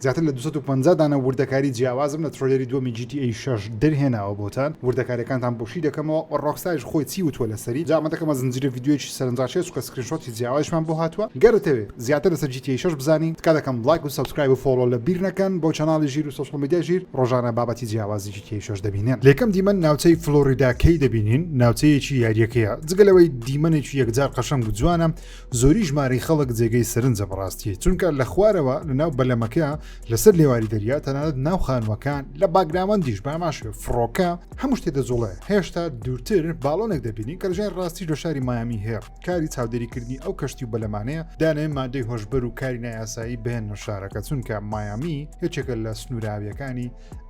زیاتر لە دوو سەد و پەنجا دانە وردەکاری جیاوازم لە تڕەیلەری دووەمی جی تی ئەی شەش دەرهێناوە بۆتان، وردەکاریەکانتان بۆ شی دەکەمەوە و ڕۆکستاریش خۆی چی وتووە لەسەری، جا ئەمە دەکەمە زنجیرە ڤیدیۆیەکی سەرنجڕاکێش چونکە سکرین شۆتی جیاوازیشمان بۆ هاتووە، گەر دەتەوێ زیاتر لەسەر جی تی ئەی شەش بزانی تکا دەکەم ڵایک و سەبسکرایب و فۆڵۆ لە بیر نەکەن بۆ چەناڵی ژیر و سۆشڵ میدیای ژیر، ڕۆژانە بابەتی جیاوازی جی تی ئەی شەش دەبینێن. لە یەکەم دیمەن ناوچەی فڵۆریدا کەی دەبینین، ناوچەیەکی یاریەکەیە، جگە لەوەی دیمەنێکی یەکجار قەشەنگ و جوانە، زۆری ژمارەی خەڵک جێگەی سەرنجە بەڕاستی چونکە لە خوارەوە لە ناو بەلەمەکە لەسەر لێواری دەریا تەنانەت ناو خانوەکان لە باگراوەندیش باماشێ فڕۆکە هەموو شتێ دەجوڵێ هێشتا دوورتر باڵۆنێک دەبینی کە لەژێن ڕاستی لە شاری مایامی هێڕ کاری چاودێریکردنی ئەو کەشتی و بەلەمانەیە دانێ مادەی هۆشبەر و کاری نایاسایی بێن لە شارەکە چونکە مایامی یەکێکە لە سنووراویەکانی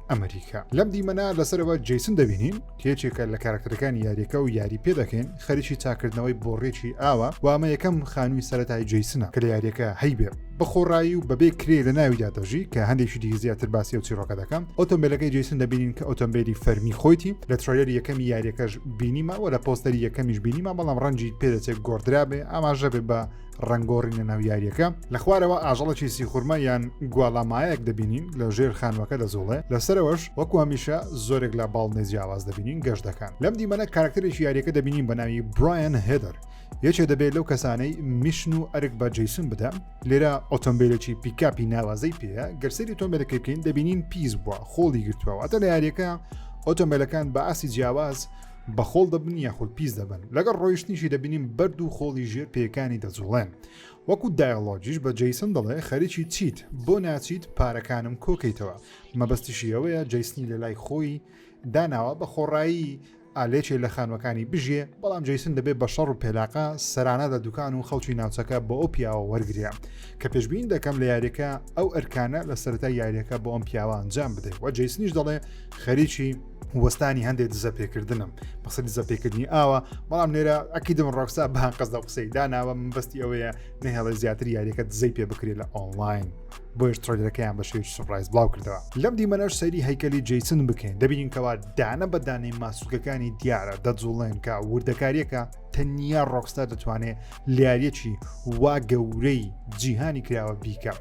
ئەمریکا لەم دیمەنا لەسەرەوە جیسن دەبینین یەکێکە لە کاراکتەرەکانی یاریەکە و یاری پێ دەکەین خەریکی چاکردنەوەی بۆڕێکی ئاوە وامە یەکەم خانووی سەرەتای جیسنە کە لە یاریەکە هەیبێ بەخۆڕایی و بەبێ کرێ لە ناویدا دەژی کە هەندێکی دی زیاتر باسی و چیرۆکە دەکەم ئۆتۆمبیلەکەی جیسن دەبینین کە ئۆتۆمبیلی فەرمی خۆیتی لە ترۆیەر یەکەمی یاریەکەش بینیمەوە لە پۆستەری یەکەمیش بینیمە بەڵام ڕەنجی پێدەچێت گۆدرابێ ئاماژە بێ بە ڕەنگۆڕین لە ناو یاریەکە لە خوارەوە ئاژەڵێکی سیخورمە یان گواڵامایەک دەبینین لە ژێر خانوەکە دەزۆڵێ لەسەرەوەش وەکو هەمیشە زۆرێک لە باڵنێ جیاواز دەبینین گەشت دەکەن لەم دیمەنە کارکتەرێکی یاریەکە دەبینین بە ناوی برایەن هێدەر یەکێ دەبێت لەو کەسانەی میشن و ئەرک بە جیسون بدەم لێرە ئۆتۆمبیلێکی پیکاپی ناوازەی پێەیە گەرسری تۆمبیلەکە بکەین دەبینین پیس بووە خۆڵی گرتووە واتە لە یاریەکە ئۆتۆمبیلەکان بە ئاسی جیاواز بە خۆڵ دەبن یاخود پیس دەبن لەگەڵ ڕۆیشتنیشی دەبینیم بەرد و خۆڵی ژێر پێکانی دەجوڵێن وەکو دایلۆجیش بە جیسن دەڵێ خەریکی چیت بۆ ناچیت پارەکانم کۆکەیتەوە مەبەستیشی ئەوەیە جیسنی لە لای خۆی داناوە بە خۆڕایی ئالێکێ لە خانوەکانی بژێ بەڵام جیسن دەبێت بە شەڕ و پێلاقە سەرانە لە دوکان و خەڵکی ناوچەکە بۆ ئەو پیاوە وەرگێ کە پێشبین دەکەم لە یاریەکە ئەو ئەرکانە لە سەرای یاریەکە بۆ ئەم پیاوە ئەنجام بدەیت وە جیسنیش دەڵێ خەریکی وەستانی هەندێک دزە پێکردنم بەسە دزە پێکردنی ئاوە بەڵام نێرە ئەکیدم ڕۆکسا بەهان قەزدا قسەی داناوە من بەستی ئەوەیە نەهێڵێ زیاتر یاریەکە دزەی پێ بکرێت لە ئۆنلاین. بۆیش ترۆلەکەیان بە شێوی سوپرایز بڵاو کردەوە لەم دیمەنەش سەری هەیکەلی جیسن بکەین دەبینین کەوا دانە بەدانەی ماسوولکەکانی دیارە دەجوڵێن کە وردەکاریەکە تەنیا ڕۆکستا دەتوانێت لیاریەکی وا گەورەی جیهانی کراوە بیکە.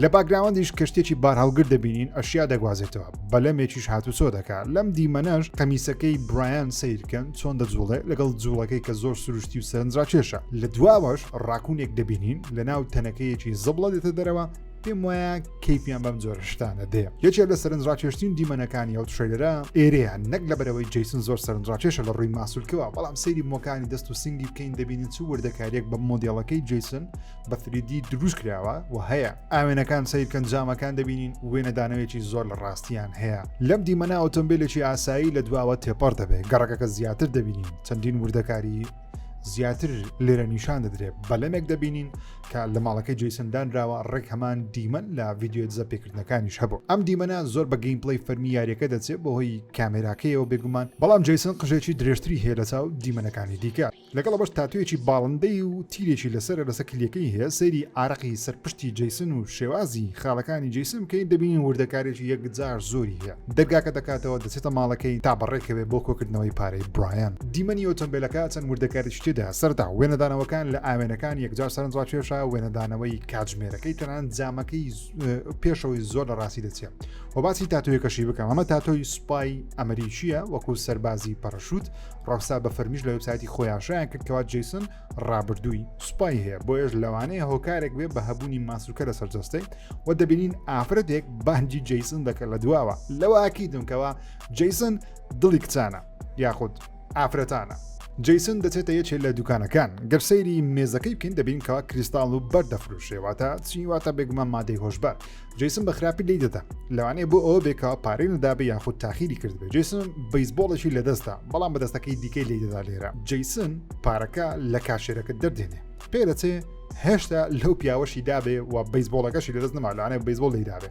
لە باگراوەندیش کەشتێکی بارهەڵگر دەبینین ئەشیا دەگوازێتەوە بەلەمێکیش هاتوچۆ دەکا لەم دیمەنەش قەمیسەکەی برایان سیرکەن چۆن دەجوڵێ لەگەڵ جوڵەکەی کە زۆر سروشتی و سەرنجرا کێشە لە دواوەش ڕاکوونێک دەبینین لە ناو تەنەکەیەکی زبڵە دێتە دەرەوە پێم وایە کەیپیان بەم جۆرشتانە دێ یەکێک لە سەرنجڕاکێشتین دیمەنەکانی ئەو تشەیلەرە ئێرەیان نەک لە بەرەوەی جیسن زۆر سەرنجڕاکێشە لە ڕووی ماسولکەوە بەڵام سەیری مۆکانی دەست و سنگی بکەین دەبینین چ وردەکاریەک بە مۆدیڵەکەی جیسن بە فریدی دروست کراوە و هەیە ئاوێنەکان سیرکەن جامەکان دەبینین وێنەدانەوەیەکی زۆر لە ڕاستیان هەیە لەم دیمەنا ئۆتۆمبیلێکی ئاسایی لە دواوە تێپەڕ دەبێت گەڕەکەکە زیاتر دەبینین چەندین وردەکاری زیاتر لێرە نیشان دەدرێت بەلەمێک دەبینین کە لە ماڵەکەی جیسندانراوە ڕێک هەمان دیمەن لە ڤیددیو دزە پێکردنەکانیش هەبوو ئەم دیمەە زۆر بە گەیم پلی فەرمی یاریەکە دەچێت بەهۆی کامێراکەیەوە بێگومان بەڵام جیسن قژێکی درێژتری هەیە لە چاو دیمەنەکانی دیکە لەگەڵ ئەوەش تاتۆیەکی باڵندەی و تیرێکی لەسەرە لەسەر کلیەکەی هەیە سەیری ئارەقی سەر پشتی جەیسن و شێوازی خاڵەکانی جەیسن بکەین دەبینین وردەکارێکی یەکجار زۆری هەیە دەرگاکە دەکاتەوە دەچێتە ماڵەکەی تا بەڕێکەوێ بۆ کۆکردنەوەی پارەی برایان دیمەنی ئۆتۆمبێلەکە چەند وردەکاریی تێدا سەرەتا وێنەدانەوەکان لە ئاوێنەکان یەکجار سەرنجڕاکێشە وێنەدانەوەی کاتژمێرەکەی تەنانەت جامەکەی پێشەوەی زۆر لە ڕاستی دەچێت و باسی تاتۆیەکەشی بکەم ئەمە تاتۆی سوپای ئەمریکیە وەکو سەربازی پەڕەشوت ڕەوسا بە فەرمیش لە وبسایەتی خۆی ئاشایان کرد کەوا جیسن ڕابردووی سوپای هەیە بۆ ێش لەوانەیە هۆکارێک بێ بە هەبوونی ماسوولکە لە سەرجەستەی و دەبینین ئافرەتێک بانجی جیسن دەکەن لە دواوە لەوە ئاکی دونکەوە جیسن دڵی کچانە یاخود ئافرەتانە جیسن دەچێتە یەکێ لە دوکانەکان گەر سەیری مێزەکەی بکەین دەبین کەوا کریستاڵ و بەر دەفروشێواتە چیواتە بێگومان مادەی هۆشبەر جیسن بە خراپی لی دەدا لەوانەیە بۆ ئەوە بێکەوە پارەی ندابێ یاخود تاخیری کردبێ جیسن بەیسبۆڵێکی لەدەستدا بەڵام بە دەستەکەی دیکەی لی دەدا لێرە جیسن پارەکە لە کاشێرەکە دەردێنێ پێ دەچێ هێشتا لەو پیاوەشی دابێ و بەیسبۆڵەکەشی لەدەست نەمالانێ بەیسبۆڵ لی دابێ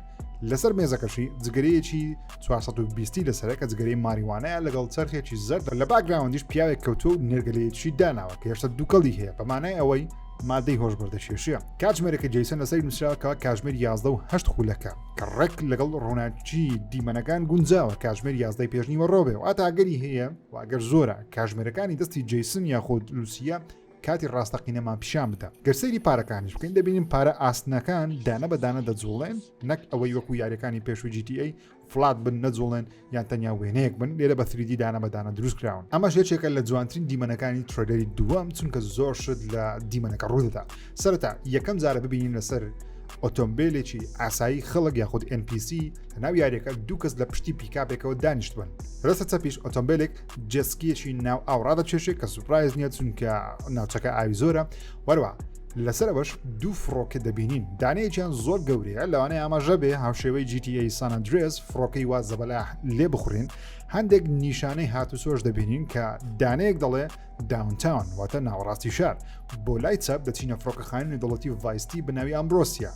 لەسەر مێزەکەشی جگەرەیەکی 420 لەسەرەکە جگەری ماریوانەیە لەگەڵ چرخێکی زەردە لە باگراوەندیش پیاوێک کەوتو و نێرگەلەیەکی داناوە کە هێشتا دووکەڵی هەیە بەمانای ئەوەی مادەی هۆشبەردە کێشە کاتژمێرەکە جیسن لەسەر نووسراکە کاژمێر 11 و هەشت خولەکە کە ڕێک لەگەڵ ڕووناکی دیمەنەکان گونجاوە کاژمێر 11 پێشنیوە ڕۆبێ و ئاتاگەری هەیە واگەر زۆرە کاژمێرەکانی دەستی جیسن یاخود لوسیە کاتی ڕاستەقینەمان پیشان بدە گەرسەری پارەکانیش بکەین دەبینین پارە ئاسنەکان دانە بەدانە دەجوڵێن نەک ئەوەی وەکو یاریەکانی پێشوو GTA فڵات بن نەجوڵێن یان تەنیا وێنەیەک بن لێرە بە تریدی دانە بەدانە دروست کراون ئەمە ژێچێکە لە جوانترین دیمەنەکانی ترۆدەری دووەم چونکە زۆر شت لە دیمەنەکە ڕوودەدا سەرتا یەکەم جارە ببینین لەسەر ئۆتۆمبیلێکی ئاسایی خەڵک یاخود NPC لە ناو یاریەکە دوو کەس لە پشتی پیکاپێکەوە دانیشتبن ڕستە چەپیش ئۆتۆمبیلێک جسکیەکی ناو ئاوڕادە چێشێک کە سوپایز نیە چونکە ناوچەکە ئاوی زۆرە وەروە لەسەر ئەوەش دوو فڕۆکە دەبینین دانەیەکیان زۆر گەورەیە لەوانەیە ئاماژە بێ هاوشێوەی GTA سانندرێز فڕۆکەی وا زەبەلا لێ بخورین هەندێک نیشانەی هاتوسۆش دەبینین کە دانەیەک دەڵێ داونتاون واتە ناوەڕاستی شار بۆ لای چەپ دەچینە فڕۆکەخانانی دەڵەتی ڤایستی بەناوی ئەمرۆسیە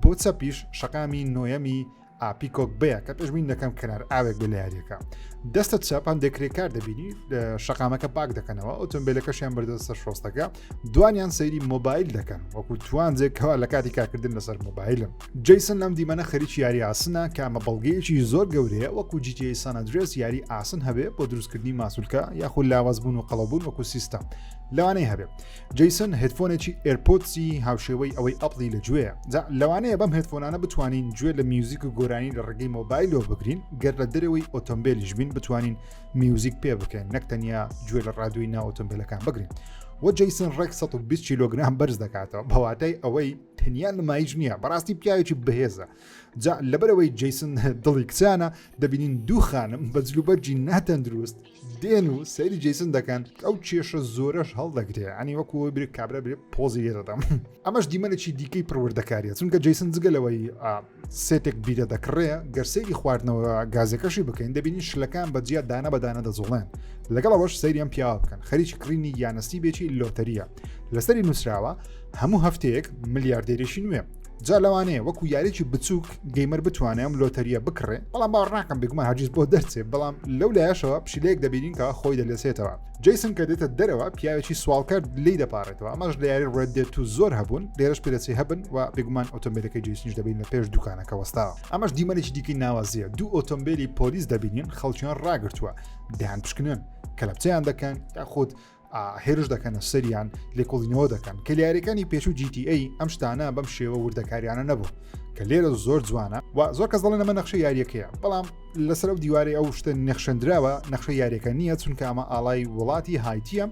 بۆ چەپیش شەقامی نۆیەمی ئا پیکۆک بەیە کە پێشبین دەکەم کەنار ئاوێک بێ لە یاریەکە دەستت چاپ هەندێک کرێکار دەبینی شقامەکە پاک دەکەنەوە ئۆتۆمبیلەکەشیان بردە سەر شۆستەکە دوانیان سەیری مۆبایل دەکەن وەکو توانجێکەوە لە کاتی کارکردن لەسەر مۆبایلم جیسن لەم دیمەنە خەریکی یاری ئاسنە کامە بەڵگەیەکی زۆر گەورەیە وەکو جیتی سانەدرێس یاری ئاسن هەبێ بۆ دروستکردنی ماسولکە یاخود لاوازبوون و قەڵەبوون وەکو سیستم لەوانەی هەبێ جەیسن هێتفۆنێکی ئێرپۆتسی هاوشێوەی ئەوەی ئەپڵی لە گوێ جا لەوانەیە بەم هێتفۆنانە بتوانین گوێ لە میوزیک و گۆرانی لە ڕگەی مۆبایلەوە بگرین گەر لە دەرەوەی ئۆتۆمبیلیش بین بتوانین میوزیک پێ بکەین نەک تەنیا گوێ لە ڕادوی ناو ئۆتۆمبیلەکان بگرین و جەیسن ڕێک 120 کیلوگرام بەرز دەکاتەوە بەواتای ئەوەی تەنیا نمایش نییە بەڕاستی پیاوێکی بەهێزە جا لەبەرەوەی جەیسن دڵی کچانە دەبینین دوو خانم بە جلوبەرجی ناتەندروست دێن و سەیری جیسن دەکەن ئەو کێشە زۆرەش هەڵدەگرێ ئەنی وەکو برێک کابرا برێ پۆزی لێدەدەم ئەمەش دیمەنێکی دیکەی پروردەکاریە چونکە جیسن جگەلەوەی سێتێک بیرە دەکڕێ گەرسەیری خواردنەوە گازەکەشی بکەین دەبینی شلەکان بەجیا دانە بەدانە دەزوڵێن لەگەڵ ئەوەش سەیریان پیاوە بکەن خەریکی کڕینی یانەستی بێکی لۆتەریە لەسەری نووسراوە هەموو هەفتەیەک ملیاردێریشی نوێ جا لەوانەیە وەکو یاریی بچووک گەیمەر بتوانێ ئەم لۆتەریە بکڕێ بەڵام باوەڕ ناکەم بگومە هەرگیز بۆ دەرچێ بەڵام لەو لایەشەوە پشیلەیەک دەبینین کە خۆی دەلێسێتەوە جیسن کە دێتە دەرەوە پیاوێکی سوالکرد لی دەپارێتەوە ئەمەش لە یاری ڕێت دێت و زۆر هەبوون لێرەش پێدەچی هەبن و بگومان ئۆتۆمبیلەکەی جیسنیش دەبین لە پێش دوکانەکە وەستا ئەمەش دیمەنێکی دیکەی ناوازیە دوو ئۆتۆمبیلی پۆلیس دەبینین خەڵکیان ڕاگرتووە دەیان پشکنن کەلەپچیان دەکەن یاخود هێرش دەکەنە سەریان لێکۆڵینەوە دەکەن کە لیارەکانی پێش و GTA ئەم شتانە بەم شێوە وردەکاریانە نەبوو کە لێرە زۆر جوانە و زۆر کەس دەڵێن ئەمە نەخشە یاریەکەیە بەڵام لەسەر ئەو دیوارەی ئەو شتە نەخشەندراوە نەخشە یاریەکە نییە چونکە ئەمە ئاڵای وڵاتی هایتیە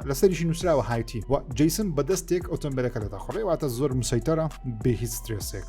لەسەریشی نووسراوە هایتی و جیسن بەدەستێک ئۆتۆمبیلەکە دەدەخڕێ واتە زۆر مسەیتەرە بێ هیچ سترێسێک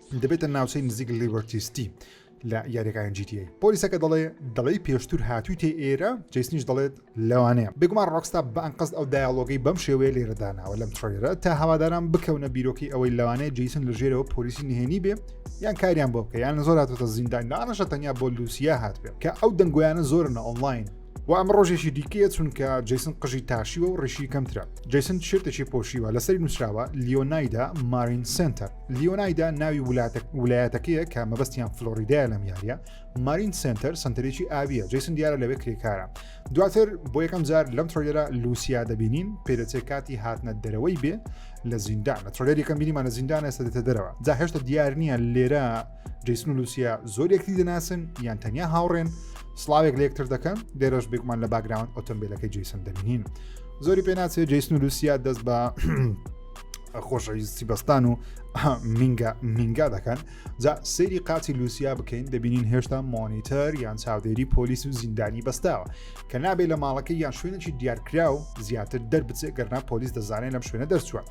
دەبێتە ناوچەی نزیک لیبرتی ستی لە یاریەکانی GTA پۆلیسەکە دەڵێ دەڵێی پێشتر هاتوویتێ ئێرە جیسنیش دەڵێت لەوانەیە بگومان ڕۆکستا بەئەنقەست ئەو دایاڵۆگەی بەم شێوەیە لێرەداناوە لەم تڕێرە تا هەواداران بکەونە بیرۆکی ئەوەی لەوانەیە جیسن لە ژێرەوە پۆلیسی نهێنی بێ یان کاریان بۆ بکە یان زۆر هاتوتە زیندان دانەشە تەنیا بۆ لوسیا هاتبێ کە ئەو دەنگۆیانە زۆرنە ئۆنلاین و ئەمە ڕۆژێکی دیکەیە چونکە جیسن قژی تاشیوە و ڕیشی کەمترە جیسن شێتێکی پۆشیوە لەسەری نووسراوە لیۆنایدا مارین سنتەر لیۆنایدا ناوی ولایەتەکەیە کە مەبەستیان فلۆریدای لەم یاریە مارین سنتەر سنتەرێکی ئاویە جیسن دیارە لەوێ کرێکارە دواتر بۆ یەکەم جار لەم ترۆیلەرە لوسیا دەبینین پێدەچێت کاتی هاتنە دەرەوەی بێ لە زیندان لە ترۆلەر یەکەم بینیمان لە زیندان ئێستا دێتە دەرەوە جا هێشتا دیار نییە لێرە جیسن و لوسیا زۆر یەکتی دەناسن یان تەنیا هاوڕێن سلااوێک لە یەکتر دەکەن دێرەش بێکمان لە باگراوند ئۆتۆمبیلەکەی جیسن دەبینین زۆری پێناچێت جیسن و لوسیا دەست بە خۆشەویستی بەستان و مینگا مینگا دەکەن جا سری قاچی لوسیا بکەین دەبینین هێشتا مۆنیتەر یان چاودێری پۆلیس و زیندانی بەستاوە کە نابێت لە ماڵەکە یان شوێنێکی دیارکرا و زیاتر دەربچێت گەرنا پۆلیس دەزانێت لەم شوێنە دەرچووە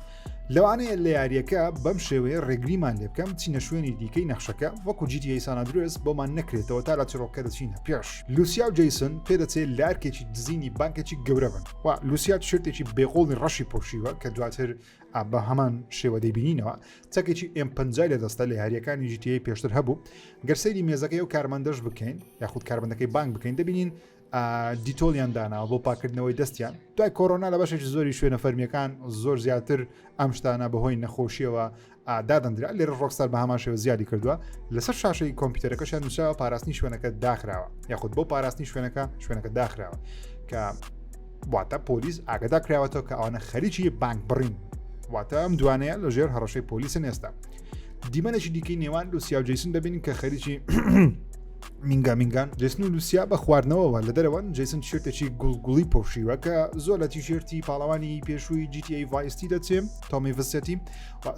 لەوانەیە لە یاریەکە بەم شێوەیە ڕێگریمان لێ بکەم چینە شوێنی دیکەی نەخشەکە وەکو جیتی ئەیسانە درێس بۆمان نەکرێتەوە تا لە چڕۆکە دەچینە پێش لوسیا و جیسن پێدەچێت لارکێکی دزینی بانکێکی گەورە بن لوسیا تشرتێکی بێقۆڵی ڕەشی پۆشیوە کە دواتر بە هەمان شێوە دەبینینەوە تەکێکی ئەم پنجای لە دەستە لە یاریەکانی ژیتی پێشتر هەبوو گەرسەری مێزەکەی و کارمەندەش بکەین یاخود کارمەندەکەی بانک بکەین دەبینین دیتۆلیان داناوە بۆ پاکردنەوەی دەستیان دوای کۆرۆنا لە بەشێکی زۆری شوێنە فەرمیەکان زۆر زیاتر ئەم شتانە بەهۆی نەخۆشیەوە دادەندرا لێرە ڕۆکسار بە هەمان شێوە زیادی کردووە لەسەر شاشەی کۆمپیوتەرەکەشیان نووسراوە پاراستنی شوێنەکە داخراوە یاخود بۆ پاراستنی شوێنەکە شوێنەکە داخراوە کە واتە پۆلیس ئاگدا کراوەتەوە کە ئەوانە خەریکی بانک بڕین واتە ئەم دوانەیە لە ژێر هەڕەشەی پۆلیسن ئێستا دیمەنێکی دیکەی نێوان لوسیا و جیسن دەبین کە خەریکی مینگا مینگان جسن و لوسیا بە خواردنەوەەوە لە دەرەوەن جیسن شێتێکی گوڵگوڵی پۆشیوە کە زۆر لە تیشێرتی پاڵەوانی پێشووی GTA ڤایستی دەچێم تۆمی ڤسەتی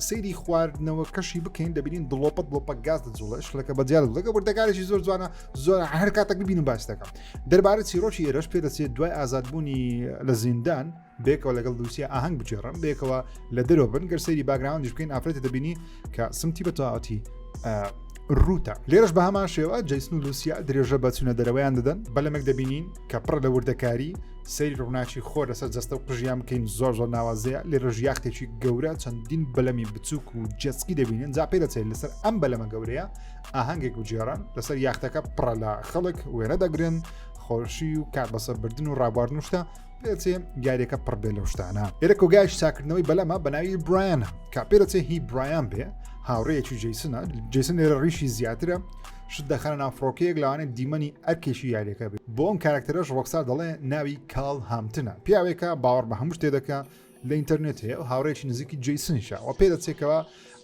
سەیری خواردنەوەکەشی بکەین دەبینین دڵۆپە دڵۆپە گاز دەجوڵە شلەکە بەجار دەگە وردەکارێکی زۆر جوانە زۆر هەر کاتەک ببینم باس دەکەم دەربارە چیرۆکی ئێرەش پێ دەچێت دوای ئازادبوونی لە زیندان بێکەوە لەگەڵ دووسیا ئاهنگ بچێڕم بێکەوە لە دەرەوە بن گەر سەیری باگراوندش بکەین ئافرەتە دەبینی کە سمتی بە تەواتی روتە لێرش بە هەمان شێوە جیسن و لوسیا درێژە بەچونە دەرەوەیان دەدەن بەلەمێک دەبینین کە پڕ لە وردەکاری سەیری ڕووناکی خۆر لەسەر جەستە و قژیان بکەین زۆر زۆر ناوازەیە لێرە ژیاختێکی گەورە چەندین بەلەمی بچووک و جەسکی دەبینن جا پێ دەچێت لەسەر ئەم بەلەمە گەورەیە ئاهەنگێک و جێران لەسەر یاختەکە پڕە لە خەڵک وێنە دەگرن خۆشی و کات بەسەربردن و ڕابواردن و شتە پێچێ گارێکە پڕبێ لەو شتانە ئێرە کۆگایش چاکردنەوەی بەلەمە بەناوی برایانە کا پێرەچێ هی برایان بێ هاوڕێیەکی جیسنە جیسن لێرە ڕیشی زیاترە شت دەخەنە ناو فڕۆکەیەک لەوانێ دیمەنی ئەرکێکی یاریەکە بێت بۆ ئەم کارکتەرەش ڕۆکسار دەڵێ ناوی کاڵ هامتنە پیاوێکە باوەڕ بە هەموو شتێ دەکە لە ئینتەرنێت هەیە و هاوڕێکی نزیکی جیسنیشە و پێ دەچێکەوە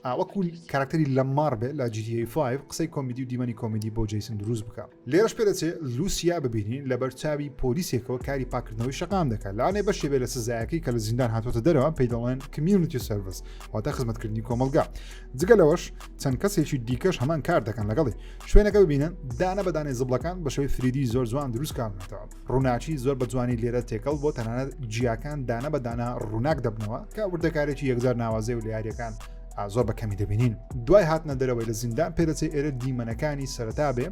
ئاوەکو کارکتەری لە ماڕ بێت لە جیدی 5 قسەی کۆمیدی و دیمەنی کۆمیدی بۆ جیسن دروست بکە لێرەش پێ دەچێت لوسیا ببینین لە بەرچاوی پۆلیسێکەوە کاری پاکردنەوەی شقام دەکات لانێ بە شێبێ لە سزایەکەی کە لە زیندان هاتۆتە دەرەوە پێی دەڵێن کمیونیتی سرویس واتە خزمەتکردنی کۆمەلگا جگە لەوەش چەند کەسێکی دیکەش هەمان کار دەکەن لەگەڵی شوێنەکە ببینن دانە بەدانێ زبلەکان بە شوی فریدی زۆر جوان دروستکارنەوە ڕووناچی زۆر بە جوانی لێرە تێکەڵ بۆ تەنانەت جیاکان دانە بەدانە ڕووناک دەبنەوە کە وردەکارێکی یەکجار ناوازەی و لە یاریەکان زۆر بە کەمی دەبینین دوای هاتنە دەرەوەی لە زیندان پێدەچێت ئێرە دیمەنەکانی سەرتا بێ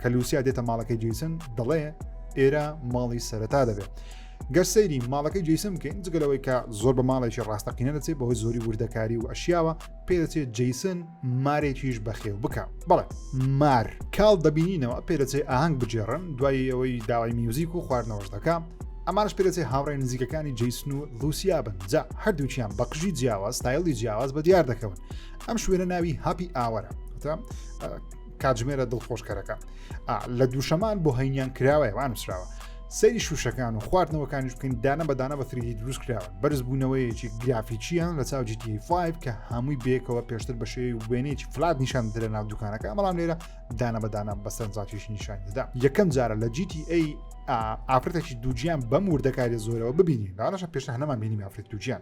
کە لوسیا دێتە ماڵەکەی جیسن دەڵێ ئێرە ماڵی سەرتا دەبێت گەر سەیری ماڵەکەی جیسم بکەین جگە لەوەی کە زۆر بە ماڵێکی ڕاستەقینە دەچێت بەهۆی زۆری وردەکاری و ئەشیاوە پێدەچێت جیسن مارێکیش بەخێو بکە بەڵێ مار کاڵ دەبینینەوە پێدەچێت ئاهنگ بجێڕن دوای ئەوەی داوای میوزیک و خواردنەوەش دەکە ئەمانش پێدەچێت هاوڕێ نزیکەکانی جیسن و لوسیا بن جا هەردووچیان بەقژی جیاواز تایڵی جیاواز بە دیار دەکەون ئەم شوێنە ناوی هاپی ئاوەرە کاتژمێرە دڵخۆشکەرەکە لە دووشەمان بۆ هەینیان کراوەیە وان نووسراوە سەری شوشەکان و خواردنەوەکانیش بکەین دانە بەدانە بە فریدی دروست کراوە بەرز بوونەوەیەکی گرافیچیان لە چاو GTA5 کە هەمووی بێکەوە پێشتر بە شێوی وێنێکی فلات نیشان درە ناو دوکانەکە بەڵام لێرە دانە بەدانە بەسەرنجاتیش نیشان دەدا یەکەم جارە لە GTA ئافرەتێکی دووجیان بەم وردەکاری زۆرەوە ببینین داڕەشە پێشتە هەنەمان بینی ئافرەت دووجیان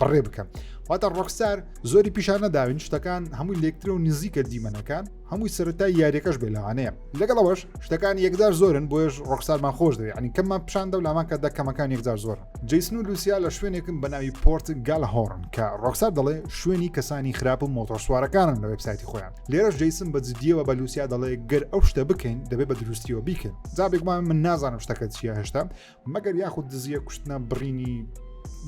بڕێ بکەم واتە ڕۆکسار زۆری پیشان نەداوین شتەکان هەمووی لەکترە و نزیکە دیمەنەکان هەمووی سەرەتا یاریەکەش بێلاوانەیە لەگەڵ ئەوەش شتەکان یەکجار زۆرن بۆش ڕۆکسارمان خۆش دەوێت ئەنی کەممان پیشان دە لامان کە دەکەمەکان یەکجار زۆر جیسن و لوسیا لە شوێنێکم بە ناوی پۆرت گال هۆرن کە ڕۆکسار دەڵێ شوێنی کەسانی خراپ و مۆتۆرسوارەکانن لە وبسایتی خۆیان لێرەش جیسم بە جدیەوە بە لوسیا دەڵێ گەر ئەو شتە بکەین دەبێت بە دروستیەوە بیکەن جابێکمان من نازانم شتەکە چیە هێشتا مەگەر یاخود دزیە کوشتنە بڕینی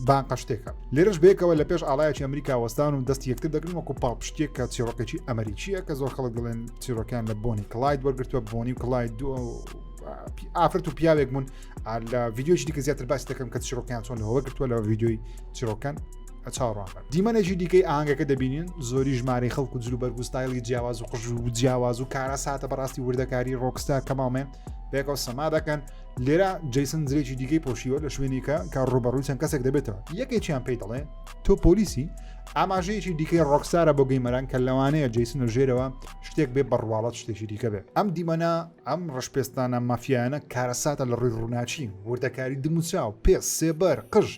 بانقە شتێکە لێرەش بێکەوە لە پێش ئاڵایەکی ئەمریکا وەستان و دەستی یەکتر دەگرن وەکو پاڵپشتێک کە چیرۆکێکی ئەمریکیە کە زۆر خەڵک دڵێن چیرۆکیان لە بۆنی کلایت وەرگتووە بۆنی و کلایت دووە ئافرەت و پیاوێک بوون لە ڤیددیۆی دیکە زیاتر باس دەکەم کە چیرۆکیان چۆن لەوە گرتووە لە ڤیددیۆی چیرۆکان چاڕان دیمەنێکی دیکەی ئاهنگەکە دەبینین زۆری ژمارەی خەڵک و جلو بەرگستایلی جیاواز و قژ و جیاواز و کارە ساتە بەڕاستی وردەکاری ڕۆکستا کەماڵمێن بێکەوە سەما دەکەن لێرە جیسن زرێکی دیکەی پۆشیوە لە شوێنیکە کە ڕوبەڕووی چەند کەسێک دەبێتەوە یەکێکیان پێی دەڵێ تۆ پۆلیسی ئاماژەیەکی دیکەی ڕۆکسارە بۆ گەیمەران کە لەوانەیە جیسن و ژێرەوە شتێک بێ بڕواڵەت شتێکی دیکە بێت ئەم دیمەنا ئەم ڕشپێستانە مافیانە کارەساتە لە ڕووی ڕووناچی وردەکاری دموچاو پێ سێبەر قژ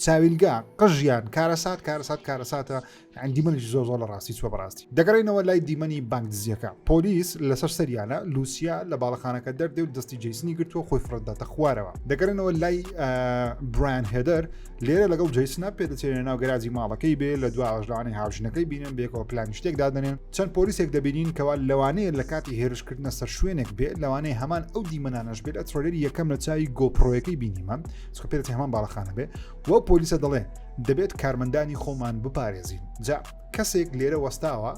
چاویلگا قژیان کارەسات کارەسات کارەساتە یان دیمەنی زۆر زۆر لە ڕاستی چوە بەڕاستی دەگەڕینەوە لای دیمەنی بانکدزیەکە پۆلیس لەسەر سەریانە لوسیا لە باڵەخانەکە دەردێ و دەستی جیسنی گرتووە خۆی فرەتداتە خوارەوە دەگەرنەوە لای بران هێدەر لێرە لەگەڵ جیسنە پێدەچێنە ناو گەراجی ماڵەکەی بێ لە دو ئاژلانی هاوژنەکەی بینن بێکەوە پلانی شتێک دادنێن چەند پۆلیسێک دەبینین کەوا لەوانەیە لە کاتی هێرشکردنە سەر شوێنێک بێ لەوانەیە هەمان ئەو دیمەنانەش بێت ئە ترۆلێری یەکەم لە چاوی گۆپڕۆیەکەی بینیمان چکە پێدەچی هەمان باڵەخانە بێ وە پۆلیسە دەڵێ دەبێت کارمەندانی خۆمان بپارێزین جا کەسێک لێرە وەستاوە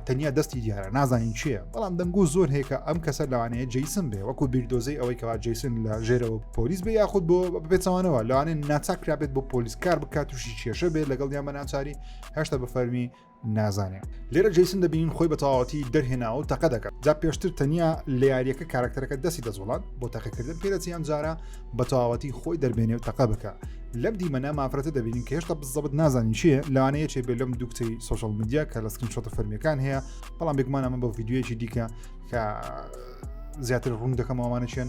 تەنیا دەستی دیارە نازانین چیە بەڵام دەنگو زۆر هێکە ئەم کەسەر لەوانەیە جیسم بێ وەکو بیردۆزەی ئەوەی کەوا جیسن لە ژێرەوە پۆلیس بێ یاخود بۆ بپێچەوانەوە لەوانێن ناچکرابێت بۆ پۆلیس کار بکات تووشی کێشە بێت لەگەڵ یان بە ناچاری هەشتا بە فەرمی نازانێ. لێرە جەیسن دەبینین خۆی بە تەواوەتی دەرهێناوەو تەقە دەکات جا پێشتر تەنیا لە یاریەکە کارەکتەرەکە دەستی دەجوڵان بۆ تەقەکردن پێدەچی ئەم جارە بە تەواوەتی خۆی دەربێنێ و تەقە بکە لەم دیمەنە مافرەتە دەبینین کە هێشتا بزەبت نازانین چیە لەوانەیە چێ بێ لەم دوکتەی سوۆشال میدیا کە لە سکرین شۆتە فەرمیەکان هەیە بەڵام بێگومان ئەمە بە ڤیددیوەیەکی دیکە کە زیاتر ڕوون دەکەمەوەمانە چێن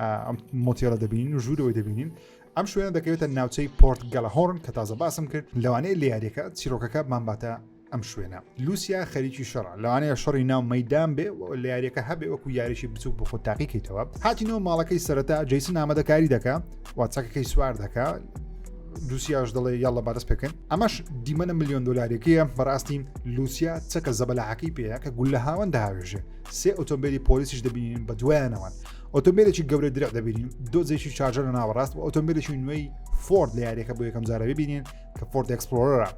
ئەم مۆتیێلە دەبینین و ژوورەوەی دەبینین ئەم شوێنە دەکەوێتە ناوچەی پۆرت گەلە هۆرن کە تازە باسم کرد لەوانەیە لیارەکە چیرۆکەکە بمباتە ئەم شوێنە لوسیا خەریکی شەڕ لەوانەیە شەڕی ناو مەدان بێ لە یاریەکە هەبێ وەکو یاریی بچوک بۆ خۆت تاقیکەیتەوە هاتینەوە ماڵەکەی سەرەتا جیسن ئامادەکاری دەکە واتچەکەکەی سوار دەکە دووسیاش دەڵێ یاڵە بەدەست پێکەن ئەمەش دیمەە میلیۆن دلاریەکەیە بەڕاستی لوسیا چەکە زەبەلاحەکەی پێەیە کە گول لە هاوەن داوێژێ سێ ئۆتۆمبیلی پۆلیسیش دەبینین بە دوایانەوەن ئۆتۆمبیلێکی گەورە درع دەبینین دۆزێکی چارجە لە ناوەڕاست و ئۆتۆمبیلێکی نوێی فۆرد لە یاریەکە بۆ یەکەم جارە ببینین کە فۆرد ئەکسپلۆرە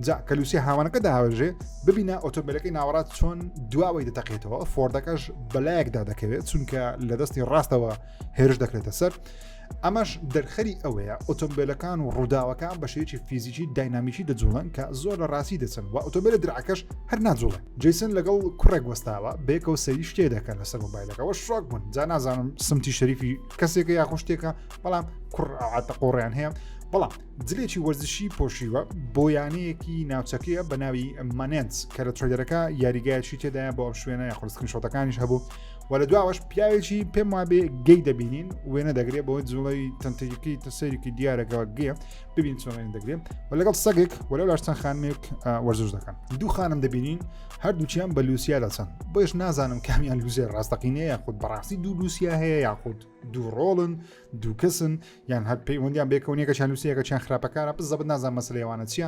جا کەلوسی هاوانەکە داوەژێ ببینە ئۆتۆمبیلەکەی ناوەڕات چۆن دواوەی دەتەقێتەوە فۆردەکەش بەلایەکدا دەکەوێت چونکە لە دەستی ڕاستەوە هێرش دەکرێتە سەر ئەمەش دەرخەری ئەوەیە ئۆتۆمبیلەکان و ڕووداوەکان بە شێوەیەکی فیزیکی داینامیکی دەجوڵن کە زۆر لە ڕاستی دەچن و ئۆتۆمبیلە درعەکەش هەر ناجوڵێ جیسن لەگەڵ کوڕێک وەستاوە بێکەوە سەری شتێ دەکەن لەسەر مۆبایلەکەەوە شۆک بوون جا نازانم سمتی شەریفی کەسێکە یاخۆ شتێکە بەڵام کوڕ عاتە قۆڕیان هەیە بەڵام جلێکی وەرزشی پۆشیوە بۆ یانەیەکی ناوچەکەیە بە ناوی مانێنس کە لە ترۆیدەرەکە یاریگایشی تێدایە بۆ ئەم شوێنە یاخۆستکن شۆتەکانیش هەبوو و لە دواوەش پیاوێکی پێم وابێ گەی دەبینین وێنە دەگرێت بۆ جوڵەوی تەنتەکەی تەسەرێکی دیارەگەوە گێ ببین چۆنێن دەگرێت و لەگەڵ سەگێک و لە لاشتان خانمێک وەرزش دەکەن دوو خانم دەبینین هەردووچیان بە لوسیا دەچەن بۆیش نازانم کامیان لوزێ ڕاستەقینەیە یاخود بەڕاستی دوو لوسیا هەیە یاخود دوو ڕۆڵن دوو کەسن یان هەر پەیوەندیان بێکەونیەکەشان لوسیەکەچیان خراپەکارە بزەبت نازان مەسلێوانە چییە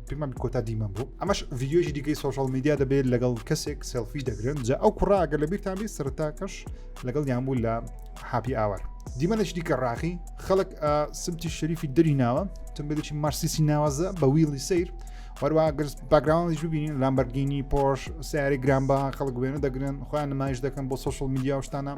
پێمان کۆتا دیمەم بوو ئەمەش ڤیددیۆژی دیکەی سوۆشال میدیا دەبێت لەگەڵ کەسێک سێلفی دەگرن جا ئەو کوڕا ئەگەر لە بیرتان بێت سەرتاکەش لەگەڵ یان بوو لە حاپی ئاوار دیمەنش دیکە ڕاخی خەڵک سمتی شەریفی دەری ناوە تمبێکی مارسیسی ناوازە بە ویڵی سیر وەروە گرس باگراوانش ببینین لامبەرگینی پۆش سیاری گرانبا خەڵک وێنە دەگرن خۆیان نمایش دەکەن بۆ سوۆشال میدیا شتانە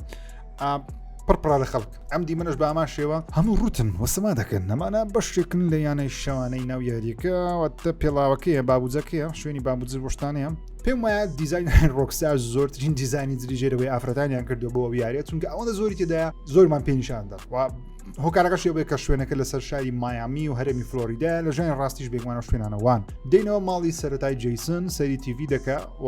پڕپڕە لە خەڵک ئەم دیمەش بە ئامان شێوە هەموو ڕوتن وەسەما دەکەن نەمانە بەشێکن لە یانەی شەوانەی ناو یاریەکەوەتە پێڵاوەکەیە بابوجەکەیە شوێنی بابوجر بشتانەیە پێم وایە دیزین ڕۆکسار زۆرترین دیزانی دریژێرەوەی ئافرەتانیان کردو بۆ یاریە چونکە ئەوەندە زۆری تێدا زۆرمان پێنیشاندا هۆکارەکەش بێ کە شوێنەکە لەسەر شاری مایامی و هەرمی فلۆریدا لە ژێن ڕاستیش بێگومانە شوێنانەوان دێنەوە ماڵی سەتای جیسن سەری تیڤی دەکە و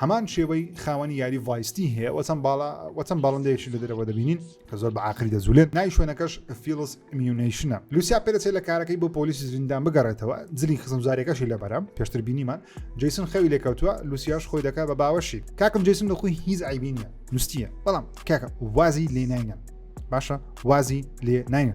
هەمان شێوەی خاوەنی یاری ڤایستی هەیە وە چەند باڵا وە چەند باڵندەیەکی لە دەرەوە دەبینین کە زۆر بە عقلی دەجولێن نای شوێنەکەش فیلس میونیشنە لوسیا پێدەچێت لە کارەکەی بۆ پۆلیسی زیندان بگەڕێتەوە جلی خزمزارەکەشی لەبەرە پێشتر بینیمان جیسن خەوی لێکەوتووە لوسیاش خۆی دەکات بە باوەشی کاکم جیسن لە خۆی هیچ عیبی نیە نوستیە بەڵام کاکە وازی لێ ناینە باشە وازی لێ ناینە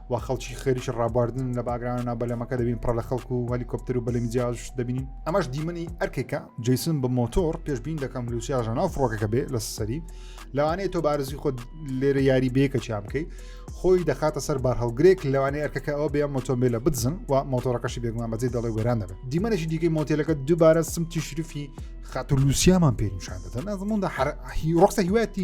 و خەڵکی خێریش ڕابواردن لە باگرانە نا بەلەمەکە دەبین پڕە لە خەڵکو و هەلیکۆپتەر و بەلەمی جیاش دەبینین ئەمەش دیمەنی ئەرکێکە جیسن بە مۆتۆر پێشبین دەکەم لوسیاژە ناو فڕۆکەکە بێ لە سەری لەوانەیە تۆ بارزی خۆ لێرە یاری بێکە چیا بکەیت خۆی دەخاتە سەر بار هەڵگرێک لەوانەیە ئەرکەکە ئەو بێ مۆتۆمبیلە بدزن و مۆتۆرەکەشی بێگومان بەجێ دەڵێ وێران دەبێت دیمەنێکی دیکەی مۆتێلەکە دووبارە سمتی شرفی خاتولوسیامان پێنیشان دەدەن ئەزموندا ڕۆخسە هیواتی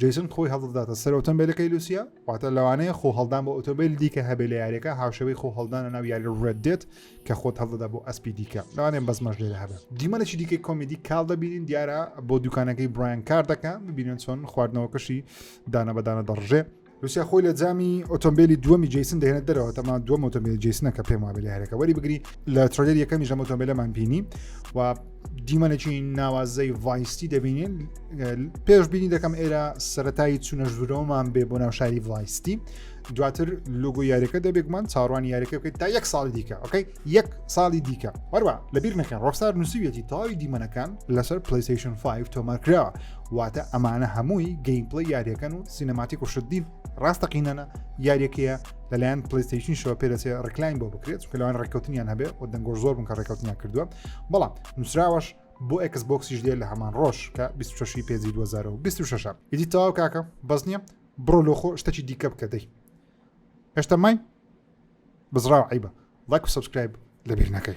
جەیسن خۆی هەڵدەداتە سەر ئۆتۆمبیلەکەی لوسیا واتە لەوانەیە خۆ هەڵدان بۆ ئۆتۆمبیل دیکە هەبێ لە یاریەکە هاوشەوەی خۆ هەڵدانە ناو یاری ڕێت دێت کە خۆت هەڵدەدا بۆ ئەسپی دیکە لەوانێ بەزمەش لێرە هەبێ دیمەنێکی دیکەی کۆمیدی کاڵ دەبینین دیارە بۆ دوکانەکەی برایان کار دەکە ببینن چۆن خواردنەوەکەشی دانە بەدانە دەڕژێ لوسیا خۆی لە جامی ئۆتۆمبیلی دووەمی جیسن دەێنێت دەرەوە تەما دووەم ئۆتۆمبیل جیسنە کە پێم وابێ لە هەرەکە وەری بگری لە ترۆلێر یەکەمی ژەم ئۆتۆمبیلەمان بینی و دیمەنێکی ناوازەی ڤایستی دەبینین پێش بینی دەکەم ئێرە سەتایی چونە ژورەوەمان بێ بۆ ناوشاری ڤایستی دواتر لوگو یاریەکە دەبێکمان چاڕوانی یاریەکە بکەیت تا یەک ساڵی دیکە ئۆکەی یەک ساڵی دیکە هەروە لەبیر نەکەن ڕۆخسار نووسویەتی تەواوی دیمەنەکان لەسەر پلیسیشن 5 تۆمارکراوە واتە ئەمانە هەمووی گەیمپلی یاریەکەن و سینەماتی کوشتدین ڕاستەقینەە یاریەکەیە لەلایەن پلیستیشن شەوە پێدەچێ ڕکلاین بۆ بکرێت چکەلوان ڕێککەوتنیان هەبێ و دەنگۆش زۆر بن کە ڕێککەوتنیان کردووە بەڵام نووسراوەش بۆ ئەکس بۆکسیش دێ لە هەمان ڕۆژ کە 26 پێزی 2026 ئیدی تەواو کاکە بەس نییە بڕۆ لۆخۆ شتەکی دیکە بکە دەی هێشتا مای بزراو عیبە لایک و سبسکرایب لەبیر نەکەی